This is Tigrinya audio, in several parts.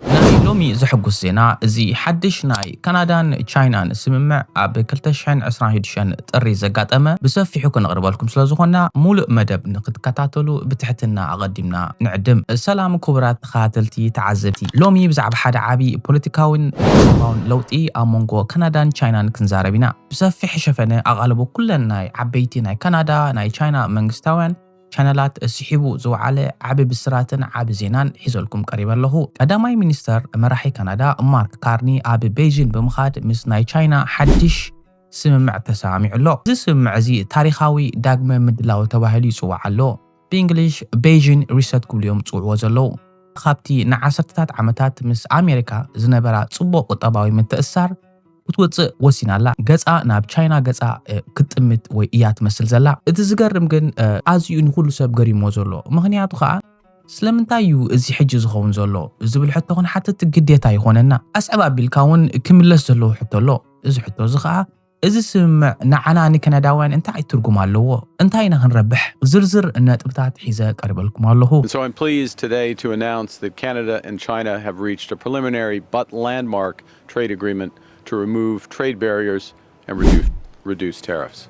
ናይ ሎሚ ዘሕጉስ ዜና እዚ ሓድሽ ናይ ካናዳን ቻይናን ስምምዕ ኣብ ክልተ ሽሕን ዕስራን ሽዱሽተን ጥሪ ዘጋጠመ ብሰፊሑ ክንቕርበልኩም ስለ ዝኾንና ሙሉእ መደብ ንክትከታተሉ ብትሕትና ኣቐዲምና ንዕድም። ሰላም ኩቡራት ተኸታተልቲ ተዓዘብቲ ሎሚ ብዛዕባ ሓደ ዓቢ ፖለቲካዊን ቁጠባውን ለውጢ ኣብ መንጎ ካናዳን ቻይናን ክንዛረብ ኢና። ብሰፊሕ ሸፈነ ኣቓልቦ ኩለን ናይ ዓበይቲ ናይ ካናዳ ናይ ቻይና መንግስታውያን፣ ቻነላት ስሒቡ ዝወዓለ ዓቢ ብስራትን ዓቢ ዜናን ሒዘልኩም ቀሪበ ኣለኹ። ቀዳማይ ሚኒስተር መራሒ ካናዳ ማርክ ካርኒ ኣብ በይጂን ብምኻድ ምስ ናይ ቻይና ሓድሽ ስምምዕ ተሰማሚዑ ኣሎ። እዚ ስምምዕ እዚ ታሪኻዊ ዳግመ ምድላው ተባሂሉ ይጽዋዕ ኣሎ። ብእንግሊሽ በይጂን ሪሰት ክብሉ እዮም ዝጽውዕዎ ዘለዉ። ካብቲ ንዓሰርተታት ዓመታት ምስ ኣሜሪካ ዝነበራ ጽቡቕ ቁጠባዊ ምትእስሳር፣ ክትወጽእ ወሲና ኣላ። ገጻ ናብ ቻይና ገጻ ክትጥምት ወይ እያ ትመስል ዘላ። እቲ ዝገርም ግን ኣዚዩ ንኹሉ ሰብ ገሪምዎ ዘሎ ምኽንያቱ ከኣ ስለምንታይ እዩ እዚ ሕጂ ዝኸውን ዘሎ ዝብል ሕቶ ክንሓትት ግዴታ ይኾነና። ኣስዕብ ኣቢልካ እውን ክምለስ ዘለዎ ሕቶ ኣሎ። እዚ ሕቶ እዚ ከኣ እዚ ስምምዕ ንዓና ንከናዳውያን እንታይ ትርጉም ኣለዎ? እንታይ ኢና ክንረብሕ? ዝርዝር ነጥብታት ሒዘ ቀሪበልኩም ኣለኹ። And so I'm pleased today to announce that Canada and China have reached a preliminary but landmark trade agreement to remove trade barriers and reduce tariffs.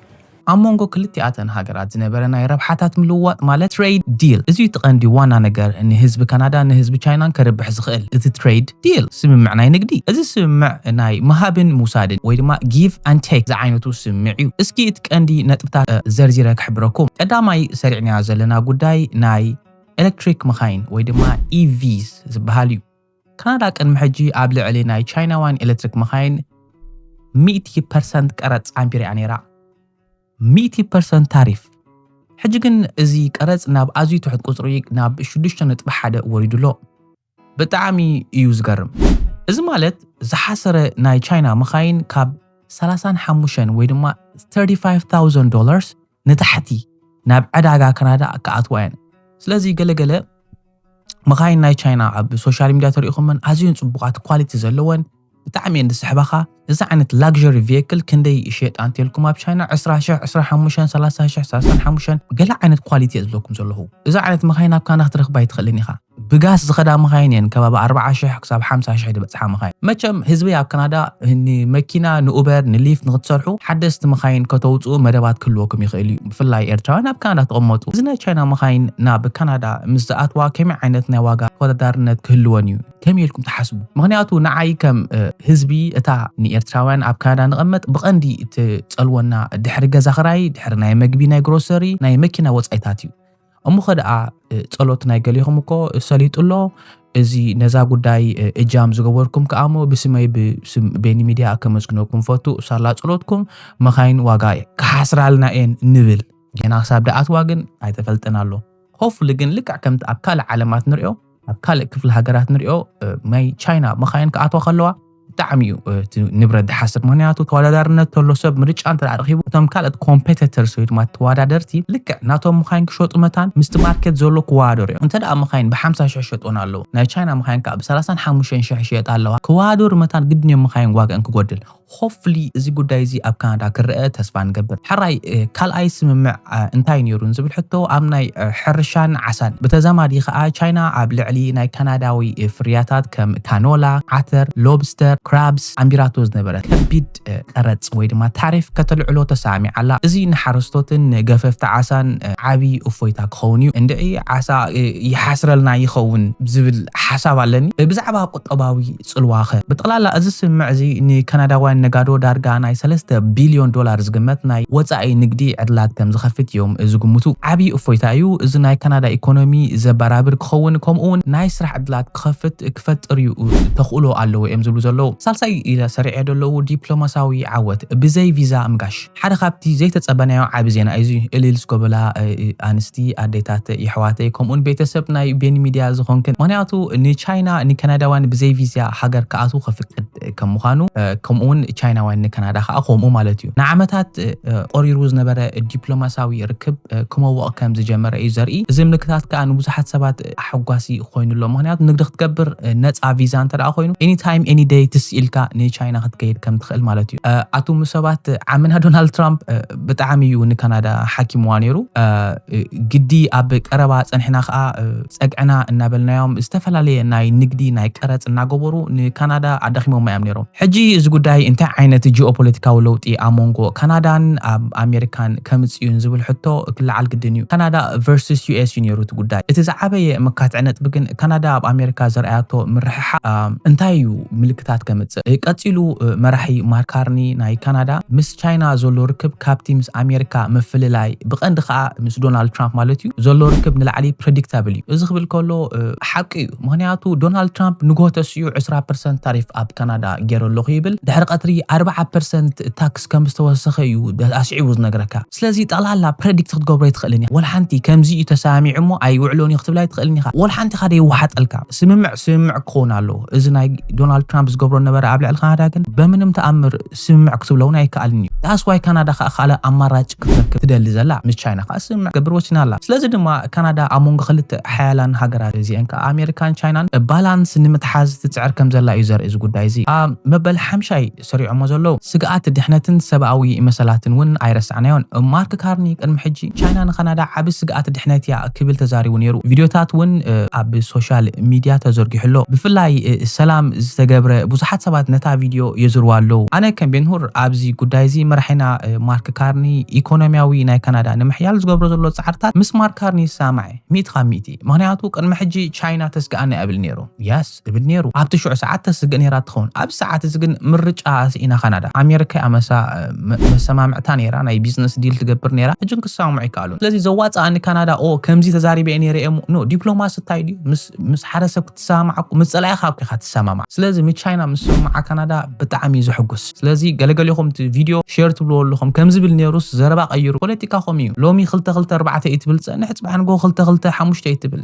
ኣብ መንጎ ክልቲኣተን ሃገራት ዝነበረ ናይ ረብሓታት ምልውዋጥ ማለት ትሬድ ዲል እዚ'ዩ እቲ ቀንዲ ዋና ነገር ንህዝቢ ካናዳን ንህዝቢ ቻይናን ከርብሕ ዝኽእል እቲ ትሬድ ዲል ስምምዕ ናይ ንግዲ እዚ ስምምዕ ናይ ምሃብን ምውሳድን ወይ ድማ ጊቭ ኣን ቴክ ዝዓይነቱ ስምምዕ እዩ እስኪ እቲ ቀንዲ ነጥብታት ዘርዚረ ክሕብረኩም ቀዳማይ ሰሪዕናዮ ዘለና ጉዳይ ናይ ኤሌክትሪክ መኻይን ወይ ድማ ኢቪስ ዝበሃል እዩ ካናዳ ቅድሚ ሕጂ ኣብ ልዕሊ ናይ ቻይናውያን ኤሌክትሪክ መኻይን ሚእቲ ፐርሰንት ቀረጽ ኣንቢራ'ያ ነይራ። ሚእቲ ፐርሰንት ታሪፍ። ሕጂ ግን እዚ ቀረጽ ናብ ኣዝዩ ትሑት ቁጽሪ ናብ ሽዱሽተ ነጥቢ ሓደ ወሪዱ ኣሎ። ብጣዕሚ እዩ ዝገርም። እዚ ማለት ዝሓሰረ ናይ ቻይና መኻይን ካብ ሰላሳን ሓሙሽተን ወይ ድማ thirty five thousand dollars ንታሕቲ ናብ ዕዳጋ ካናዳ ክኣትዋ እየን ስለዚ ገለ ገለ መኻይን ናይ ቻይና ኣብ ሶሻል ሚድያ ተሪኢኹመን ኣዝየን ፅቡቓት ኳሊቲ ዘለወን ብጣዕሚ እየን ዝስሕባኻ እዚ ዓይነት ላግዠሪ ቪክል ክንደይ ይሸጣ እንተልኩም ኣብ ቻይና 20 ሽሕ 25 30 ሽሕ 35 ገለ ዓይነት ኳሊቲ እየ ዝብለኩም ዘለኹ እዚ ዓይነት መኻይን ኣብ ካና ክትረኽባ ኣይትኽእልን ኢኻ ብጋስ ዝኸዳ መኻይን እየን ከባቢ ኣርብዓ ሽሕ ክሳብ ሓምሳ ሽሕ ዝበጽሓ መኻይን። መቸም ህዝቢ ኣብ ካናዳ ንመኪና ንኡበር ንሊፍት ንክትሰርሑ ሓደስቲ መኻይን ከተውጽኡ መደባት ክህልወኩም ይኽእል እዩ። ብፍላይ ኤርትራውያን ኣብ ካናዳ ትቕመጡ እዚ ናይ ቻይና መኻይን ናብ ካናዳ ምስ ዝኣትዋ ከመይ ዓይነት ናይ ዋጋ ተወዳዳርነት ክህልወን እዩ ከመይ ኢልኩም ትሓስቡ? ምኽንያቱ ንዓይ ከም ህዝቢ እታ ንኤርትራውያን ኣብ ካናዳ ንቐመጥ ብቐንዲ እትጸልወና ድሕሪ ገዛ ክራይ ድሕሪ ናይ መግቢ ናይ ግሮሰሪ ናይ መኪና ወጻኢታት እዩ። እሞኸ ደኣ ጸሎት ናይ ገሌኹም እኮ ሰሊጡ ኣሎ፣ እዚ ነዛ ጉዳይ እጃም ዝገበርኩም ከኣ እሞ ብስመይ ብስም ቤኒ ሚድያ ከመስግነኩም ፈቱ፣ ሳላ ጸሎትኩም መኻይን ዋጋ ክሓስራልና እየን ንብል፣ ጌና ክሳብ ደኣትዋ ግን ኣይተፈልጠን ኣሎ፣ ሆፍሊ ግን ልክዕ ከምቲ ኣብ ካልእ ዓለማት ንርእዮ፣ ኣብ ካልእ ክፍሊ ሃገራት ንሪኦ ናይ ቻይና መኻይን ክኣትዋ ከለዋ ብጣዕሚ እዩ እቲ ንብረት ዝሓስር ምክንያቱ ተወዳዳርነት ተሎ ሰብ ምርጫ እንተ ረኪቡ እቶም ካልኦት ኮምፔተተርስ ወይ ድማ ተወዳደርቲ ልክዕ ናቶም መኻይን ክሸጡ መታን ምስቲ ማርኬት ዘሎ ክወዳደሩ እዮም እንተ ደኣ መኻይን ብሓምሳ ሽሕ ሸጦን ኣለዉ ናይ ቻይና መኻይን ከዓ ብሰላሳን ሓሙሽተን ሽሕ ይሸጣ ኣለዋ ክወዳደሩ መታን ግድን እዮም መኻይን ዋግአን ክጎድል Hopefully እዚ ጉዳይ እዚ ኣብ ካናዳ ክረኣ ተስፋ ንገብር። ሕራይ ካልኣይ ስምምዕ እንታይ ነይሩ ንዝብል ሕቶ ኣብ ናይ ሕርሻን ዓሳን ብተዛማዲ ከኣ ቻይና ኣብ ልዕሊ ናይ ካናዳዊ ፍርያታት ከም ካኖላ፣ ዓተር፣ ሎብስተር፣ ክራብስ ኣንቢራቶ ዝነበረት ከቢድ ቀረጽ ወይ ድማ ታሪፍ ከተልዕሎ ተሰማሚዓ ኣላ። እዚ ንሓረስቶትን ንገፈፍቲ ዓሳን ዓቢ እፎይታ ክኸውን እዩ። እንድዒ ዓሳ ይሓስረልና ይኸውን ዝብል ሓሳብ ኣለኒ። ብዛዕባ ቁጠባዊ ጽልዋኸ? ብጠቕላላ እዚ ስምምዕ እዚ ንካናዳውያን ነጋዶ ዳርጋ ናይ ሰለስተ ቢልዮን ዶላር ዝግመት ናይ ወጻኢ ንግዲ ዕድላት ከም ዝኸፍት እዮም ዝግምቱ። ዓቢ እፎይታ እዩ፣ እዚ ናይ ካናዳ ኢኮኖሚ ዘበራብር ክኸውን ከምኡ'ውን ናይ ስራሕ ዕድላት ክኸፍት ክፈጥር እዩ ተኽእሎ ኣለዎ እዮም ዝብሉ ዘለዉ። ሳልሳይ ኢለ ሰሪዐዮ ዘለዉ ዲፕሎማስያዊ ዓወት፣ ብዘይ ቪዛ ምጋሽ። ሓደ ካብቲ ዘይተጸበናዮ ዓቢ ዜና እዩ እዚ። እልል ስኮብላ ኣንስቲ ኣዴታት የሕዋተይ ከምኡውን ቤተሰብ ናይ ቤኒ ሚድያ ዝኾንክን ምኽንያቱ ንቻይና ንከናዳውያን ብዘይ ቪዝያ ሃገር ክኣትዉ ከፍቅድ ከም ምዃኑ ከምኡውን ቻይናውያን ንከናዳ ከኣ ከምኡ ማለት እዩ ንዓመታት ቆሪሩ ዝነበረ ዲፕሎማስያዊ ርክብ ክመውቕ ከም ዝጀመረ እዩ ዘርኢ እዚ ምልክታት ከኣ ንብዙሓት ሰባት ኣሐጓሲ ኮይኑ ኣሎ ምክንያቱ ንግዲ ክትገብር ነፃ ቪዛ እንተ ኮይኑ ኤኒ ታይም ኤኒ ደይ ትስ ኢልካ ንቻይና ክትከይድ ከም ትኽእል ማለት እዩ ኣቱም ሰባት ዓምና ዶናልድ ትራምፕ ብጣዕሚ እዩ ንካናዳ ሓኪምዋ ነይሩ ግዲ ኣብ ቀረባ ፀንሕና ከዓ ፀግዕና እናበልናዮም ዝተፈላለየ ናይ ንግዲ ናይ ቀረፅ እናገበሩ ንካናዳ ኣዳኺሞማ እዮም ነይሮም ሕጂ እዚ ጉዳይ እንታይ ዓይነት ጂኦፖለቲካዊ ለውጢ ኣብ መንጎ ካናዳን ኣብ ኣሜሪካን ከምጽእ እዩ ንዝብል ሕቶ ክለዓል ግድን እዩ። ካናዳ ቨርስስ ዩኤስ እዩ ነይሩ እቲ ጉዳይ። እቲ ዝዓበየ መካትዒ ነጥቢ ግን ካናዳ ኣብ ኣሜሪካ ዘርኣያቶ ምርሕሓቕ እንታይ እዩ ምልክታት ከምጽእ። ቀጺሉ መራሒ ማርክ ካርኒ ናይ ካናዳ ምስ። ቻይና ዘሎ ርክብ ካብቲ ምስ ኣሜሪካ ምፍልላይ ብቐንዲ ከኣ ምስ ዶናልድ ትራምፕ ማለት እዩ ዘሎ ርክብ ንላዕሊ ፕረዲክታብል እዩ። እዚ ክብል ከሎ ሓቂ እዩ ምኽንያቱ ዶናልድ ትራምፕ ንግሆ ተሲኡ ዕስራ ፐርሰንት ታሪፍ ኣብ ካናዳ ጌረ ኣለኹ ይብል ድሕሪ ቀትሪ ኣርብዓ ፐርሰንት ታክስ ከም ዝተወሰኸ እዩ ኣስዒቡ ዝነግረካ ስለዚ ጠቕላላ ፕረዲክት ክትገብሮ ኣይትኽእልን ኢኻ ወላ ሓንቲ ከምዚ እዩ ተሰማሚዑ እሞ ኣይውዕሎን እዩ ክትብላ ኣይትኽእልን ኢኻ ወላ ሓንቲ ኢኻ ደይወሓጠልካ ስምምዕ ስምምዕ ክኸውን ኣለዎ እዚ ናይ ዶናልድ ትራምፕ ዝገብሮ ነበረ ኣብ ልዕሊ ካናዳ ግን በምንም ተኣምር ስምምዕ ክትብሎ ውን ኣይከኣልን እዩ ዳስ ዋይ ካናዳ ከኣ ካልእ ኣማራጭ ክትረክብ ትደሊ ዘላ ምስ ቻይና ከኣ ስምምዕ ክትገብር ወሲና ኣላ ስለዚ ድማ ካናዳ ኣብ መንጎ ክልተ ሓያላን ሃገራት እዚኤን ከኣ ኣሜሪካን ቻይናን ባላንስ ንምትሓዝ ትጽዕር ከምዘላ እዩ ዘርኢ እዚ ጉዳይ እዚ ኣብ መበል ሓምሻይ ሰሪዖሞ ዘለዉ ስግኣት ድሕነትን ሰብኣዊ መሰላትን ውን ኣይረሳዕናዮን ማርክ ካርኒ ቅድሚ ሕጂ ቻይና ንካናዳ ዓቢ ስግኣት ድሕነት እያ ክብል ተዛሪቡ ነይሩ። ቪድዮታት እውን ኣብ ሶሻል ሚድያ ተዘርጊሑ ኣሎ። ብፍላይ ሰላም ዝተገብረ ብዙሓት ሰባት ነታ ቪድዮ የዝርዋ ኣለዉ። ኣነ ከም ቤንሁር ኣብዚ ጉዳይ እዚ መራሒና ማርክ ካርኒ ኢኮኖሚያዊ ናይ ካናዳ ንምሕያል ዝገብሮ ዘሎ ጻዕርታት ምስ ማርክ ካርኒ ይሰማማዕ እየ ሚእቲ ካብ ሚእቲ። ምኽንያቱ ቅድሚ ሕጂ ቻይና ተስግኣና እያ እብል ነይሩ። Yes። ዝብል ነይሩ። ኣብቲ ሽዑ ሰዓት ተስግእ ነይራ ትኸውን። ኣብዚ ሰዓት እዚ ግን ምርጫ ስኢና ካናዳ። ኣሜሪካ እያ መሳ መሰማምዕታ ነይራ፣ ናይ ቢዝነስ ዲል ትገብር ነይራ፣ ሕጂ ግን ክሰማምዑ ኣይከኣሉን። ስለዚ ዘዋጽኣ ንካናዳ ኦ ከምዚ ተዛሪበ እየ ነይረ እሞ ን ዲፕሎማሲ እንታይ ድዩ ምስ ምስ ሓደ ሰብ ክትሰማማዕ እኮ ምስ ጸላኢኻ እኮ ኢኻ ትሰማማዕ። ስለዚ ምስ ቻይና ምስምምዓ ካናዳ ብጣዕሚ እዩ ዘሕጉስ። ስለዚ ገለ ገሌኹም እቲ ቪድዮ ሼር ትብልዎ ኣለኹም ከም ዝብል ነይሩስ ዘረባ ቀይሩ ፖለቲካኹም እዩ። ሎሚ ክልተ ክልተ ኣርባዕተ እዩ ትብል ትጸንሕ ጽባሕ ንግሆ ክልተ ክልተ ሓሙሽተ እዩ ትብል።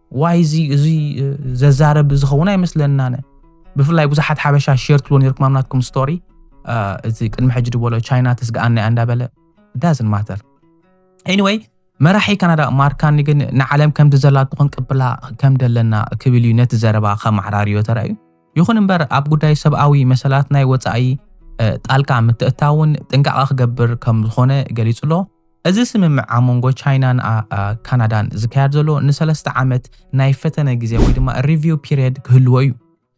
ዋይ እዚ እዚ ዘዛረብ ዝኸውን ኣይመስለናነ ብፍላይ ብዙሓት ሓበሻ ሸር ትብሎ ነርኩም ኣብ ናትኩም ስቶሪ እዚ ቅድሚ ሕጂ ድበሎ ቻይና ትስግኣና እያ እንዳበለ ዳዝን ማተር ኤኒወይ መራሒ ካናዳ ማርካኒ ግን ንዓለም ከምቲ ዘላቶ ክንቅብላ ከም ደለና ክብል እዩ ነቲ ዘረባ ከማዕራርዮ ተራእዩ ይኹን እምበር ኣብ ጉዳይ ሰብኣዊ መሰላት ናይ ወፃኢ ጣልቃ ምትእታውን ጥንቃቐ ክገብር ከም ዝኾነ ገሊጹ ኣሎ እዚ ስምምዕ ኣብ መንጎ ቻይናን ካናዳን ዝካየድ ዘሎ ንሰለስተ ዓመት ናይ ፈተነ ግዜ ወይ ድማ ሪቪው ፒሪየድ ክህልዎ እዩ።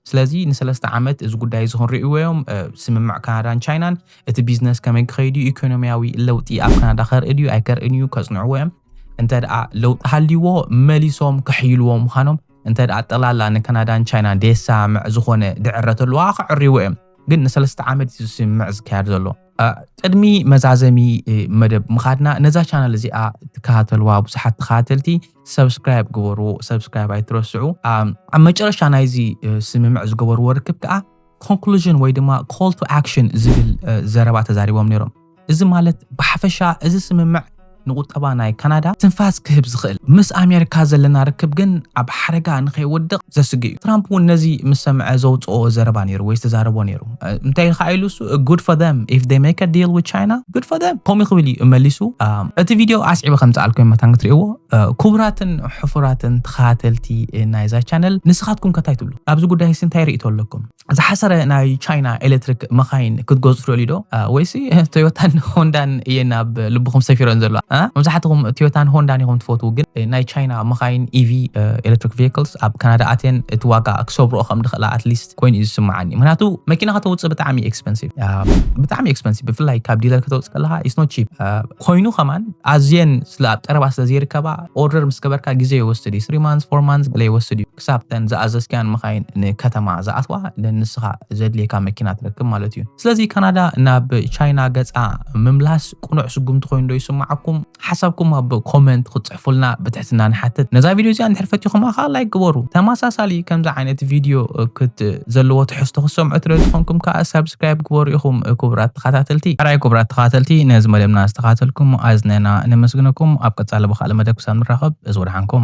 ስለዚ ንሰለስተ ዓመት እዚ ጉዳይ እዚ ክንርእይዎ እዮም ስምምዕ ካናዳን ቻይናን እቲ ቢዝነስ ከመይ ክኸይድ እዩ ኢኮኖሚያዊ ለውጢ ኣብ ካናዳ ከርኢ ድዩ ኣይከርእን እዩ ከጽንዕዎ እዮም እንተ ደኣ ለውጢ ሃልይዎ መሊሶም ክሕይልዎ ምዃኖም እንተ ደኣ ጠቕላላ ንካናዳን ቻይናን ደየሰማምዕ ዝኾነ ድዕረት ኣለዋ ክዕርይዎ እዮም ግን ንሰለስተ ዓመት እዩ ስምምዕ ዝካየድ ዘሎ ቅድሚ መዛዘሚ መደብ ምኻድና ነዛ ቻናል እዚኣ ትከታተልዋ ብዙሓት ተኸታተልቲ ሰብስክራይብ ግበርዎ ሰብስክራይብ ኣይትረስዑ ኣብ መጨረሻ ናይዚ ስምምዕ ዝገበርዎ ርክብ ከዓ ኮንክሉዥን ወይ ድማ ኮል ቱ ኣክሽን ዝብል ዘረባ ተዛሪቦም ነይሮም። እዚ ማለት ብሓፈሻ እዚ ስምምዕ ንቁጠባ ናይ ካናዳ ትንፋስ ክህብ ዝኽእል እዩ። ምስ ኣሜሪካ ዘለና ርክብ ግን ኣብ ሓደጋ ንከይወድቕ ዘስግእ እዩ። ትራምፕ እውን ነዚ ምስ ሰምዐ ዘውጽኦ ዘረባ ነይሩ ወይ ዝተዛረቦ ነይሩ። እንታይ ከኣ ኢሉ እሱ good for them if they make a deal with China good for them ከምኡ ክብል እዩ መሊሱ። እቲ ቪድዮ ኣስዒበ ከምጽኣልኩም መታን ክትርእይዎ። ክቡራትን ሕፉራትን ተኸታተልቲ ናይዛ ቻነል ንስኻትኩም ከ እንታይ ትብሉ? ኣብዚ ጉዳይሲ እንታይ ርእይቶ ኣለኩም? ዝሓሰረ ናይ ቻይና ኤሌክትሪክ መኻይን ክትገዙ ትደልዩ ዶ ወይሲ ቶዮታን ሆንዳን እየን ኣብ ልብኹም ሰፊረን ዘለዋ መብዛሕትኹም ቶዮታን ሆንዳን ኢኹም ትፈትዉ ግን ናይ ቻይና መኻይን ኢቪ ኤሌክትሪክ ቪክልስ ኣብ ካናዳ ኣትየን እቲ ዋጋ ክሰብርኦ ከም ድኽእላ ኣትሊስት ኮይኑ እዩ ዝስምዓኒ ምክንያቱ መኪና ከተውፅእ ብጣዕሚ ኤክስፐንሲቭ ብጣዕሚ ኤክስፐንሲቭ ብፍላይ ካብ ዲለር ከተውፅእ ከለካ ኢስኖ ቺፕ ኮይኑ ከማን ኣዝየን ስለ ኣብ ቀረባ ስለ ዘይርከባ ኦርደር ምስ ገበርካ ግዜ ይወስድ እዩ ስሪ ማንስ ፎር ማንስ ገለ ይወስድ እዩ ክሳብተን ዝኣዘዝካያን መኻይን ንከተማ ዝኣትዋ ንንስኻ ዘድልየካ መኪና ትረክብ ማለት እዩ። ስለዚ ካናዳ ናብ ቻይና ገጻ ምምላስ ቅኑዕ ስጉምቲ ኮይኑ ዶ ይስማዓኩም? ሓሳብኩም ኣብ ኮመንት ክትጽሕፉልና ብትሕትና ንሓትት። ነዛ ቪድዮ እዚኣ እንድሕር ፈቲኹማ ከኣ ላይክ ግበሩ። ተመሳሳሊ ከምዚ ዓይነት ቪድዮ ክት ዘለዎ ትሕዝቶ ክትሰምዑ ትደልዩ ተኾንኩም ከኣ ሳብስክራይብ ግበሩ ኢኹም ክቡራት ተኻታተልቲ። ሕራይ ክቡራት ተኻታተልቲ ነዚ መደብና ዝተኻታተልኩም ኣዝነና ነመስግነኩም። ኣብ ቀጻሊ ብኻልእ መደብ ክሳብ ንራኸብ እዝ ወድሓንኩም።